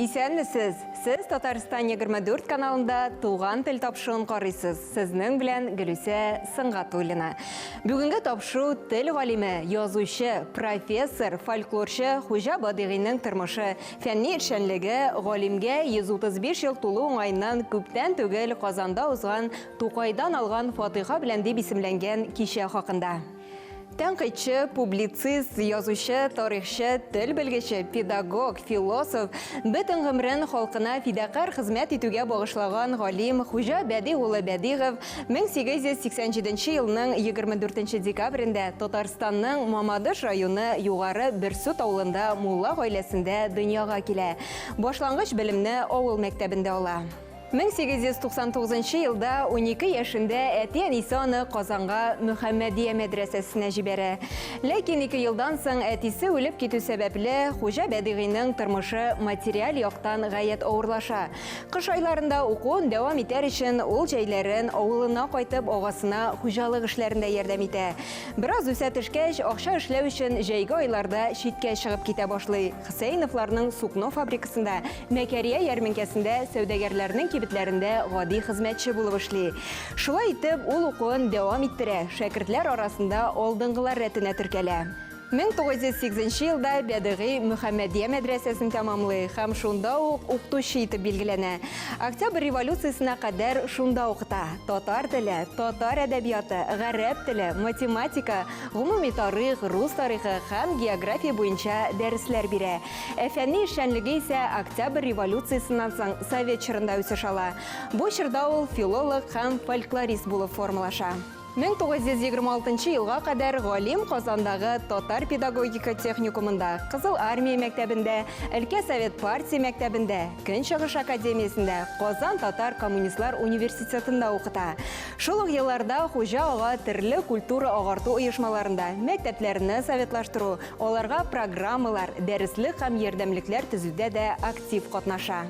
Исәнмесез! Сез Татарстан 24 каналында Туган тел тапшыгын карыйсыз. Сезнең белән Гөлүсә Сынгатуллина. Бүгенге тапшу тел галиме, язучы, профессор, фольклорчы Хуҗа Бадыйгыйның тормышы, фәнни эшчәнлеге, галимгә 135 ел тулу уңаеннан күптән түгел Казанда узган Тукайдан алган фатыйха белән дип исемләнгән кичә хакында. Тәнкыйтьче, публицист, язучы, тарихчы, тел белгече, педагог, философ, бөтен гомрен халкына фидакарь хезмәт итүгә багышлаган галим Хуҗа Бәди улы Бәдигов 1887 елның 24 декабрендә Татарстанның Мамадыш районы Югары Берсут авылында мулла гаиләсендә дөньяга килә. Башлангыч белемне авыл мәктәбендә ала. 1899 нчы елда унике яшендә әти-әнисе аны Казанга Мөхәммәдия мәдрәсәсенә җибәрә. Ләкин ике елдан соң әтисе үлеп китү сәбәпле, Хуҗа Бәдигыйның тормышы материаль яктан гаять авырлаша. Кыш айларында укуын дәвам итәр өчен, ул җәйләрен авылына кайтып агасына хуҗалык эшләрендә ярдәм итә. Бераз үсә төшкәч, акча эшләү өчен җәйге айларда читкә чыгып китә башлый, Хөсәеновларның сукно фабрикасында Мәкәрия ярминкәсендә сәүдәгәрләрнең кибетләрендә гади хезмәтче булып эшли. Шулай итеп, ул укуын дәвам иттерә, шәкертләр арасында алдынгылар рәтенә теркәлә. 1908 нче елда Бәдыгый Мөхәммәдия мәдрәсәсен тәмамлый һәм шунда ук укытучы итеп билгеләнә. Октябрь революциясенә кадәр шунда укыта. Татар теле, татар әдәбияты, гарәп теле, математика, гомуми тарих, рус тарихы һәм география буенча дәресләр бирә. Ә фәнни эшчәнлеге исә Октябрь революциясеннән соң совет чорында үсеш ала. Бу чорда ул филолог һәм фольклорист булып формалаша. 1926 елга кадәр галим Казандагы татар педагогика техникумында, Кызыл Армия мәктәбендә, өлкә совет партия мәктәбендә, Көнчыгыш академиясендә, Казан татар коммунистлар университетында укыта. Шул ук елларда Хуҗа ага төрле культура-агарту оешмаларында, мәктәпләрне советлаштыру, Аларга программалар, дәреслек һәм ярдәмлекләр төзүдә дә актив катнаша.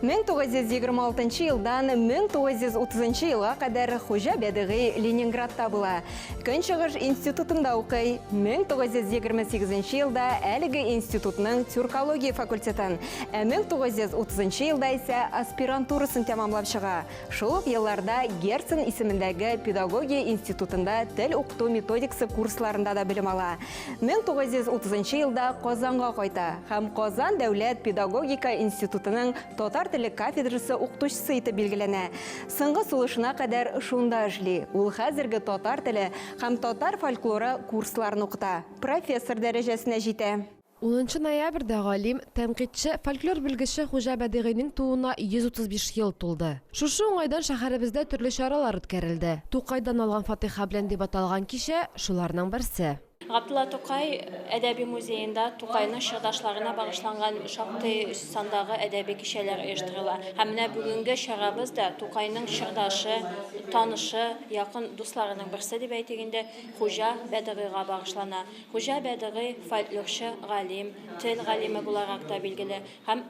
1926 елдан 1930 елга кадәр Хуҗа Бәдыгый Ленинградта була. Көнчыгыш институтында укый. 1928 елда әлеге институтның тюркология факультетын, ә 1930 елда исә аспирантурасын тәмамлап чыга. Шул ук елларда Герцен исемендәге педагогия институтында тел укыту методикасы курсларында да белем ала. 1930 елда Казанга кайта һәм Казан дәүләт педагогика институтының татар теле кафедрасы укытучысы итеп билгеләнә. Соңгы сулышына кадәр шунда эшли. Ул хәзерге татар теле һәм татар фольклоры курсларын укыта, профессор дәрәҗәсенә җитә. Унынчы ноябрьдә галим, тәнкыйтьче, фольклор белгече Хуҗа Бәдыйгыйнең тууына 135 ел тулды. Шушы уңайдан шәһәребездә төрле чаралар үткәрелде. Тукайдан алган фатыйха белән дип аталган кичә, шуларның берсе. Габдулла Тукай әдәби музеенда Тукайның чордашларына багышланган шактый сандагы әдәби кичәләр оештырыла. Һәм менә бүгенге чарабыз да Тукайның чордашы, танышы, якын дусларының берсе дип әйтик инде, Хуҗа Бәдыгыйга багышлана. Хуҗа Бәдыгый фольклорчы, галим, тел галиме буларак та билгеле һәм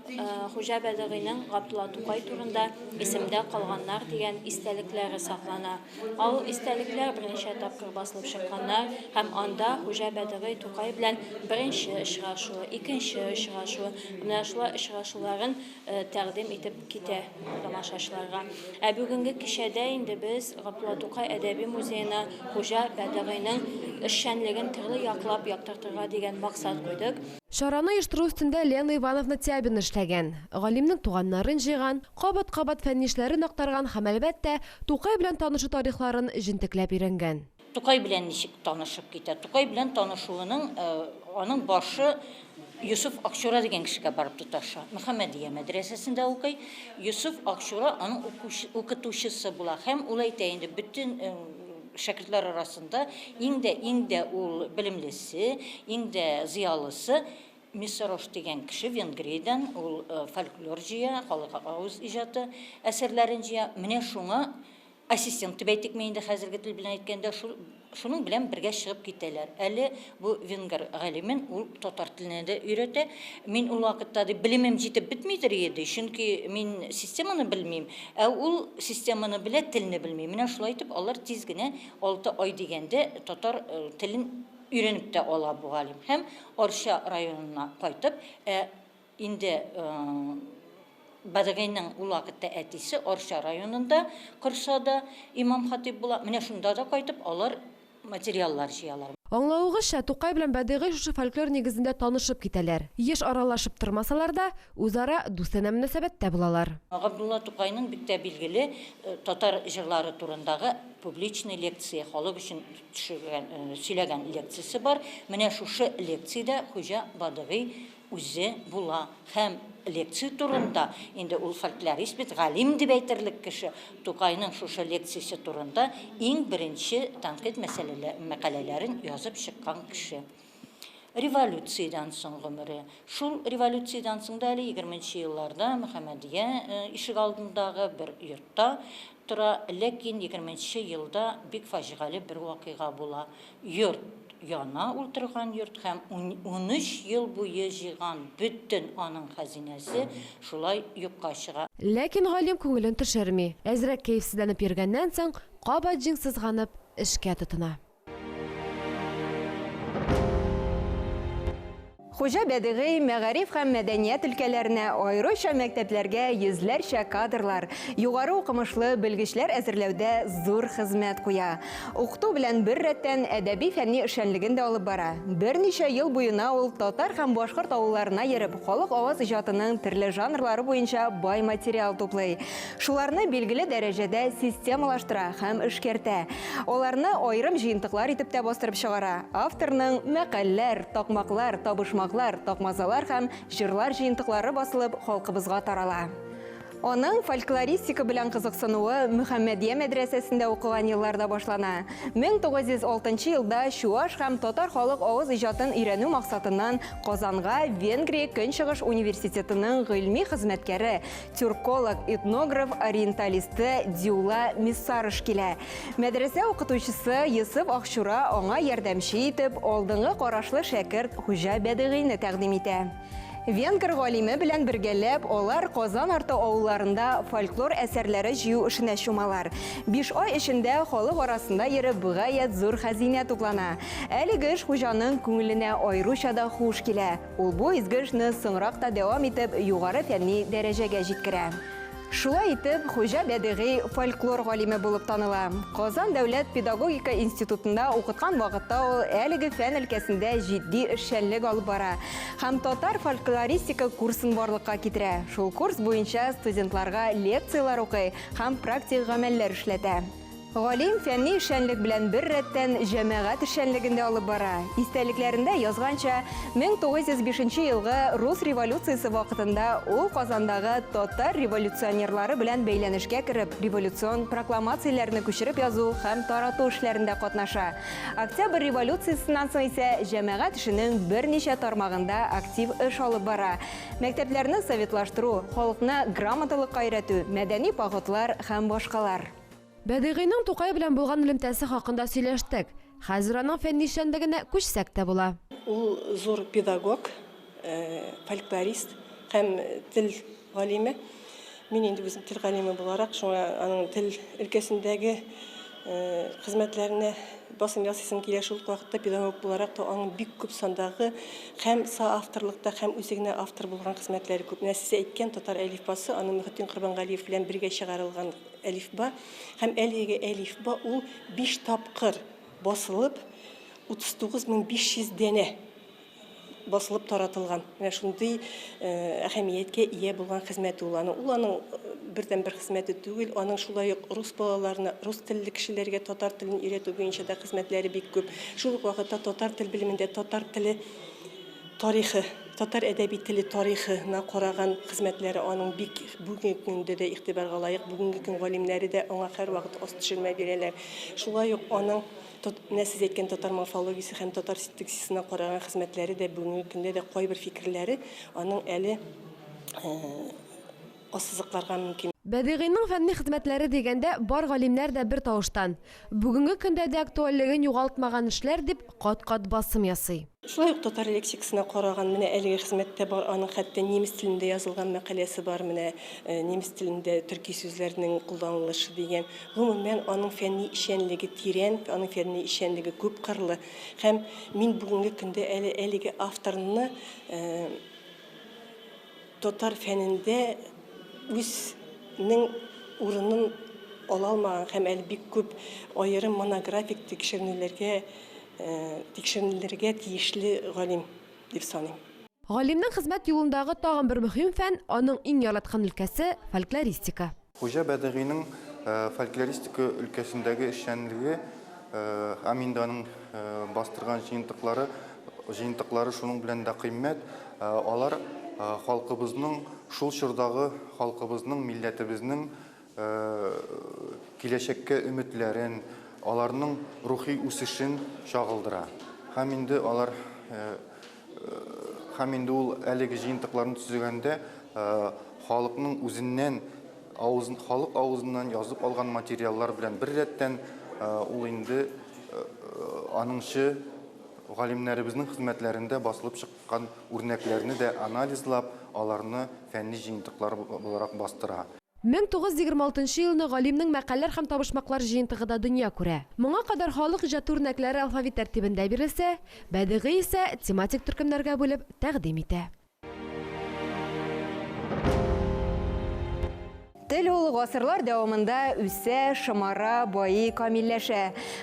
Хуҗа Бәдыгыйның Габдулла Тукай турында Исемдә калганнар дигән истәлекләре саклана. Ал истәлекләр берничә тапкыр басылып чыкканнар һәм анда Хуҗа Бәдыгый Тукай белән беренче очрашуы, икенче очрашуы һәм менә шулай очрашуларын Э, тәкъдим итеп китә тамашачыларга. Ә бүгенге кичәдә инде без Гапла Тукай әдәби музеена Хуҗа Бәдагыйның эшчәнлеген төрле яклап яктыртырга дигән максат куйдык. Чараны оештыру өстендә Лена Ивановна Тябина эшләгән. Галимнең туганнарын җыйган, кабат-кабат фәннишләрен актарган һәм, әлбәттә, Тукай белән танышу тарихларын җентекләп өйрәнгән. Тукай белән ничек танышып китә? Тукай белән танышуының аның башы Юсуф Акчура дигән кешегә барып тоташа. Мөхәммәдия мәдрәсәсендә укый. Юсуф Акчура аның укытучысы була һәм ул әйтә инде бөтен шәкертләр арасында иң дә иң дә ул белемлесе, иң дә зыялысы Миссарош дигән кеше Венгриядән ул фольклор җыя, халык авыз иҗаты әсәрләрен җыя. Менә шуңа Ассистент дип әйтик ми инде хәзерге тел белән әйткәндә шул шуның белән бергә чыгып китәләр. Әле бу венгр галимен ул татар теленә дә өйрәтә. Мин ул вакытта ди белемем җитеп бетмидер ие ди, чөнки мин системаны белмим, ә ул системаны белә, телне белми. Менә шулай итеп алар тиз генә алты ай дигәндә татар телен өйрәнеп тә ала бу галим һәм Арча районына кайтып, ә Инде Бәдегәйнең ул вакытта әтисе Арча районында Кыршада имам-хатыйб була. Менә шунда да кайтып алар материаллар җыялар. Аңлавыгызча, Тукай белән Бәдегәй шушы фольклор нигезендә танышып китәләр. Еш аралашып тормасалар да, үзара дустанә мөнәсәбәттә булалар. Габдулла Тукайның бик тә билгеле татар җырлары турындагы публичный лекция, халык өчен төшергән, сөйләгән лекциясе бар. Менә шушы лекциядә Хуҗа Бадыгый үзе була һәм лекция турында, инде ул фольклорист бит, галим дип әйтерлек кеше, Тукайның шушы лекциясе турында иң беренче тәнкыйть мәкаләләрен язып чыккан кеше. Революциядән соң гомере. Шул революциядән соң да әле егерменче елларда Мөхәммәдия ишегалдындагы бер йортта тора, ләкин егерменче елда бик фаҗигале бер вакыйга була. Йорт яна ул торган йорт һәм унөч ел буе җыйган бөтен аның хәзинәсе шулай юкка чыга. Ләкин галим күңелен төшерми, әзрәк кәефсезләнеп йөргәннән соң, кабат җиң сызганып, эшкә тотына. Хуҗа Бәдигый мәгариф һәм мәдәният өлкәләренә, аеруча мәктәпләргә йөзләрчә кадрлар, югары укымышлы белгечләр әзерләүдә зур хезмәт куя. Укыту белән бер рәттән әдәби-фәнни эшчәнлеген дә алып бара. Берничә ел буена ул татар һәм башкорт авылларына йөреп, халык аваз иҗатының төрле жанрлары буенча бай материал туплый. Шуларны билгеле дәрәҗәдә системалаштыра һәм эшкәртә. Аларны аерым җыентыклар итеп тә бастырып чыгара. Авторның мәкальләр, такмаклар, табышмаклар, такмазалар һәм җырлар җыентыклары басылып, халкыбызга тарала. Аның фольклористика белән кызыксынуы Мөхәммәдия мәдрәсәсендә укыган елларда башлана. 1906 елда чуаш һәм татар халык авыз иҗатын өйрәнү максатыннан Казанга Венгрия Көнчыгыш университетының гыйльми хезмәткәре, тюрколог, этнограф ориенталисты Дюла Миссарыш килә. Мәдрәсә укытучысы Йосыф Ахчура аңа ярдәмче итеп алдыңгы карашлы шәкерт Хуҗа Бәдыгыйны тәкъдим итә. Венгр галиме белән бергәләп алар Казан арты авылларында фольклор әсәрләре җыю эшенә чумалар. Биш ай эчендә халык арасында йөреп гаять зур хәзинә туплана. Әлеге эш Хуҗаның күңеленә аеруча да хуш килә. Ул бу изге эшне соңрак та дәвам итеп, югары фәнни дәрәҗәгә җиткерә. Шулай итеп, Хуҗа Бәдигый фольклор галиме булып таныла. Казан дәүләт педагогика институтында укыткан вакытта ул әлеге фән өлкәсендә җитди эшчәнлек алып бара һәм татар фольклористика курсын барлыкка китерә. Шул курс буенча студентларга лекцияләр укый һәм практик гамәлләр эшләтә. Галим фәнни эшчәнлек белән бер рәттән җәмәгать эшчәнлеген дә алып бара. Истәлекләрендә язганча, 1905 елгы рус революциясе вакытында ул Казандагы татар революционерлары белән бәйләнешкә кереп, революцион прокламацияләрне күчереп язу һәм тарату эшләрендә катнаша. Октябрь революциясеннән соң исә җәмәгать эшенең берничә тармагында актив эш алып бара, мәктәпләрне советлаштыру, халыкны грамоталыкка өйрәтү, мәдәни походлар һәм башкалар. Бәдыйгыйның Тукай белән булган элемтәсе хакында сөйләштек. Хәзер аның фәнни эшчәнлегенә күчсәк тә була. Ул зур педагог, фольклорист һәм тел галиме. Мин инде үзем тел галиме буларак, шуңа аның тел өлкәсендәге хезмәтләренә басым ясыйсым килә. Шул ук вакытта педагог буларак та аның бик күп сандагы Хәм соавторлыкта, хәм үзе генә автор булган хезмәтләре күп. Менә сез әйткән татар әлифбасы, аны Мөхетдин Корбангалиев белән бергә чыгарылган әлифба. Хәм әлеге әлифба ул биш тапкыр басылып, 39500 данә басылып таратылган. Менә шундый әһәмияткә ия булган хезмәте ул аның. Ул аның бердәнбер хезмәте түгел, аның шулай ук рус балаларына, рус телле кешеләргә татар телен өйрәтү буенча да хезмәтләре бик күп. Шул ук вакытта татар тел белемендә татар теле тарихы, татар әдәби теле тарихына караган хезмәтләре аның бик бүгенге көндә дә игътибарга лаек. Бүгенге көн галимнәре дә аңа һәрвакыт аст төшермә бирәләр. Шулай ук аның Менә сез әйткән татар морфологиясе һәм татар синтаксисына караган хезмәтләре дә бүгенге көндә дә кайбер фикерләре аның әле ассызыкларга мөмкин. Бәдигыйның фәнни хезмәтләре дигәндә, бар галимнәр дә бер тавыштан, бүгенге көндә дә актуальлеген югалтмаган эшләр, дип кат-кат басым ясый. Шулай ук татар лексикасына караган менә әлеге хезмәттә бар, аның хәтта немец телендә язылган мәкаләсе бар, менә немец телендә төрки сүзләрнең кулланылышы дигән. Гомумән, аның фәнни эшчәнлеге тирән, аның фәнни эшчәнлеге күп кырлы. Һәм мин бүгенге көндә әле әлеге авторны татар фәнендә үз нең урынын ала алмаган һәм әле бик күп аерым монографик тикшеренүләргә тикшеренелергә тиешле галим дип саныйм. Галимнең хезмәт юлындагы тагын бер мөһим фән, аның иң яраткан өлкәсе, фольклористика. Хуҗа Бәдыгыйның фольклористика өлкәсендәге эшчәнлеге, Аминданың бастырган җыентыклары, җыентыклары шуның белән дә кыйммәт, алар халкыбызның, шул чордагы халкыбызның, милләтебезнең киләчәккә өметләрен, аларның рухи үсешен чагылдыра. Һәм инде алар һәм инде ул әлеге җыентыкларны төзегәндә халыкның үзеннән авызын халык авызыннан язып алган материаллар белән бер рәттән ул инде аныңчы галимнәребезнең хезмәтләрендә басылып чыккан үрнәкләрне дә анализлап, аларны фәнни җыентыклар буларак бастыра. Мең тугыз йөз егерме алтынчы елны галимнең мәкальләр һәм табышмаклар җыентыгы да дөнья күрә. Моңа кадәр халык иҗаты үрнәкләре алфавит тәртибендә бирелсә, Бәдыйгый исә тематик төркемнәргә бүлеп тәкъдим итә. Тел ул гасырлар дәвамында үсә, шомара, байый, камилләшә.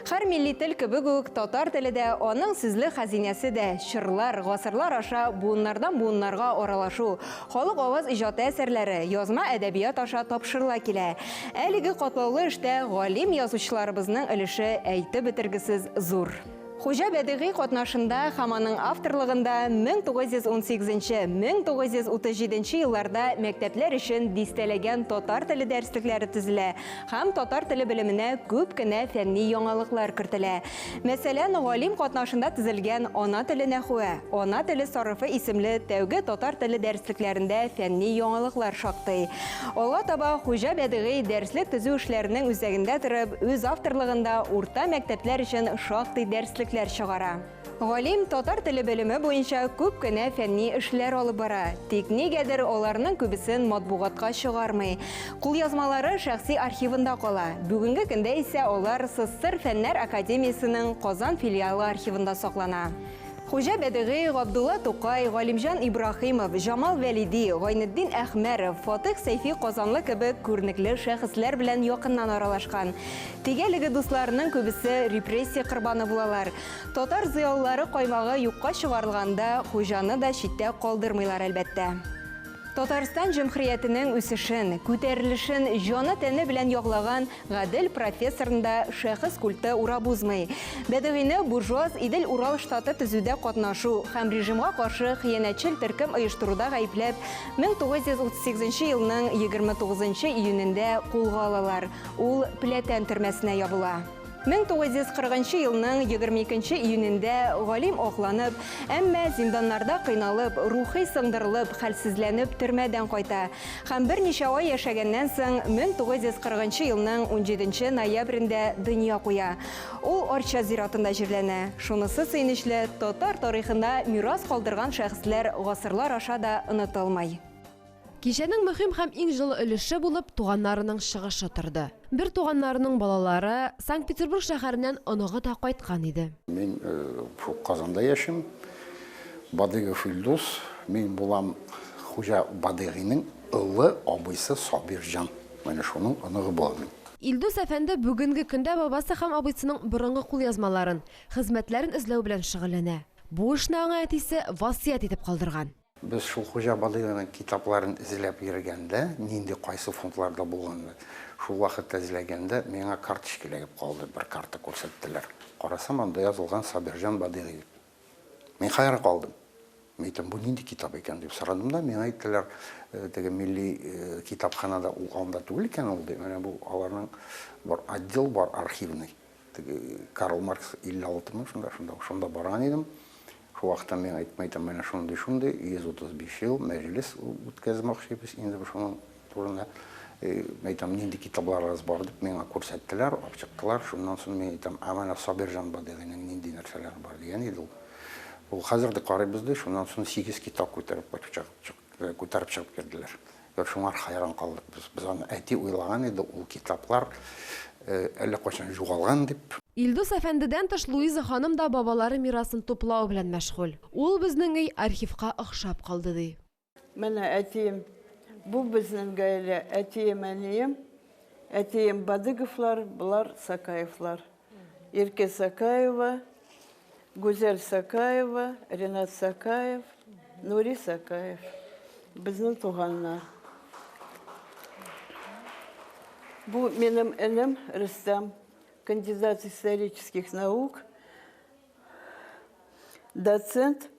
Һәр милли тел кебек үк, татар теле дә, аның сүзлек хәзинәсе дә, чорлар, гасырлар аша буыннардан буыннарга аралашу, Халык аваз иҗаты әсәрләре язма әдәбият аша тапшырыла килә. Әлеге катлаулы эштә галим язучыларыбызның өлеше әйтеп бетергесез зур. Хуҗа Бәдигый катнашында һәм аның авторлыгында 1918-1937 елларда мәктәпләр өчен дистәләгән татар теле дәреслекләре төзелә һәм татар теле белеменә күп кенә фәнни яңалыклар кертелә. Мәсәлән, галим катнашында төзелгән Ана теле нәхүе, Ана теле сарыфы исемле тәүге татар теле дәреслекләрендә фәнни яңалыклар шактый. Алга таба Хуҗа Бәдыгый дәреслек төзү эшләренең үзәгендә торып, үз авторлыгында урта мәктәпләр өчен шактый дәреслекләр чыгара. Галим татар теле белеме буенча күп кенә фәнни эшләр алып бара, тик нигәдер аларның күбесен матбугатка чыгармый. Кулъязмалары шәхси архивында кала, бүгенге көндә исә алар СССР Фәннәр академиясенең Казан филиалы архивында саклана. Хуҗа Бәдыгый, Габдулла Тукай, Галимҗан Ибраһимов, Җамал Вәлиди, Гайнетдин Әхмәров, Фатыйх Сәйфи Казанлы кебек күренекле шәхесләр белән якыннан аралашкан. Теге әлеге дусларының күбесе репрессия корбаны булалар. Татар зыялылары каймагы юкка чыгарылганда, Хуҗаны да читтә калдырмыйлар, әлбәттә. Татарстан җөмхриятенең үсешен, күтәрелешен җаны-тәне белән яглаган Гадел профессорны да шәхес культы урап узмый. Бәдыгыйне буржуаз Идел-Урал штаты төзүдә катнашу һәм режимга каршы хыянәтчел төркем оештыруда гаепләп, 1938 елның 29 июнендә кулга алалар, ул Пләтән төрмәсенә ябыла. 1940 нчы елның 22 нче июнендә галим акланып, әмма зинданнарда кыйналып, рухи сындырылып, хәлсезләнеп төрмәдән кайта һәм берничә ай яшәгәннән соң 1940 нчы елның 17 нче ноябрендә дөнья куя. Ул Арча зиратында җирләнә. Шунысы сөенечле, татар тарихында мирас калдырган шәхесләр гасырлар аша да онытылмый. Кичәнең мөһим һәм иң җылы өлеше булып туганнарының чыгышы торды. Бертуганнарының балалары, Санкт-Петербург шәһәреннән оныгы да кайткан иде. Мин шул Казанда яшим. Бадыйгов Илдус. Мин булам Хуҗа Бадыйгыйның олы абыйсы Сабирҗан. Менә шуның оныгы булам мин. Илдус әфәнде бүгенге көндә бабасы һәм абыйсының борынгы кулъязмаларын, хезмәтләрен эзләү белән шөгыльләнә. Бу эшне аңа әтисе васыять итеп калдырган. Без шул хуҗа Балыйганың китапларын эзләп йөргәндә, нинди кайсы фондларда булганны шул вакытта эзләгәндә, миңа карточка эләгеп калды, бер карта күрсәттеләр. Карасам, анда язылган Сабирҗан Бадыйгый. Мин хәйран калдым. Мин әйтәм, бу нинди китап икән дип сорадым да, миңа әйттеләр, теге милли китапханада ул анда түгел икән ул, ди, менә бу аларның бер отдел бар архивный. Теге Карл Маркс 56 мең шунда, шунда, шунда барган идем. Шул вакытта мин әйтеп әйтәм, менә шундый, шундый 135 ел мәҗлес үткәзмәкчебез инде шуның турында. Әйтәм, нинди китапларыгыз бар дип миңа күрсәттеләр, ачыктылар. Шуннан соң мин әйтәм, ә менә Сабирҗан Бадыйгының нинди нәрсәләре бар дигән иде ул. Ул хәзер дә карыйбыз ди, шуннан соң 8 китап күтәреп кайтып чыгып Күтәреп чыгып керделәр. Бер шуңар хәйран калдык без. Без аны әти уйлаган иде, ул китаплар әллә кайчан югалган дип. Илдус әфәндедән тыш Луиза ханым да бабалары мирасын туплау белән мәшгуль. Ул безнең өй архивка охшап калды, ди. Менә әтием. Бу безнең гаилә, әтием, әнием. Әтием Бадыговлар, болар Сакаевлар. Ирке Сакаева, Гүзәл Сакаева, Ренат Сакаев, Нури Сакаев. Безнең туганнар. Бу минем энем Рөстәм, кандидат исторических наук, доцент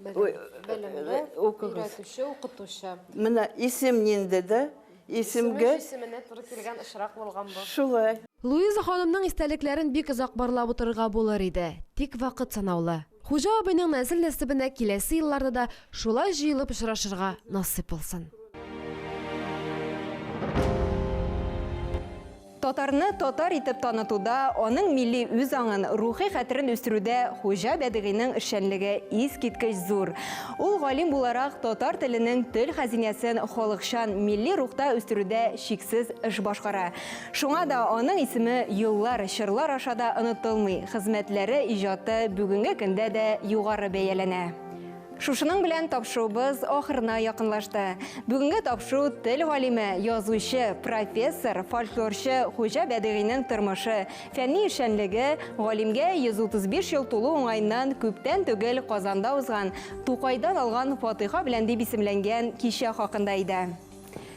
Белемле, өйрәтүче, укытучы. Менә исем нинди дә, исемгә... Исеменә туры килгән очрак булган бу. Шулай. Луиза ханымның истәлекләрен бик озак барлап утырырга булыр иде, тик вакыт санаулы. Хуҗа абыйның нәсел-нәсебенә киләсе елларда да шулай җыелып очрашырга насыйп булсын. Татарны татар итеп танытуда, аның милли үзаңын, рухи хәтерен үстерүдә Хуҗа Бәдыйгыйның эшчәнлеге искиткеч зур. Ул галим буларак татар теленең төл хәзинәсен халыкчан, милли рухта үстерүдә чиксез эш башкара. Шуңа да аның исеме еллар, чорлар аша да онытылмый, хезмәтләре, иҗаты бүгенге көндә дә югары бәяләнә. Шушының белән тапшуыбыз ахырына якынлашты. Бүгенге тапшу тел галиме, язучы, профессор, фольклорчы Хуҗа Бәдыйгыйның тормышы, фәнни эшчәнлеге, галимгә 135 ел тулу уңаеннан күптән түгел Казанда узган Тукайдан алган фатыйха белән дип исемләнгән кичә хакында иде.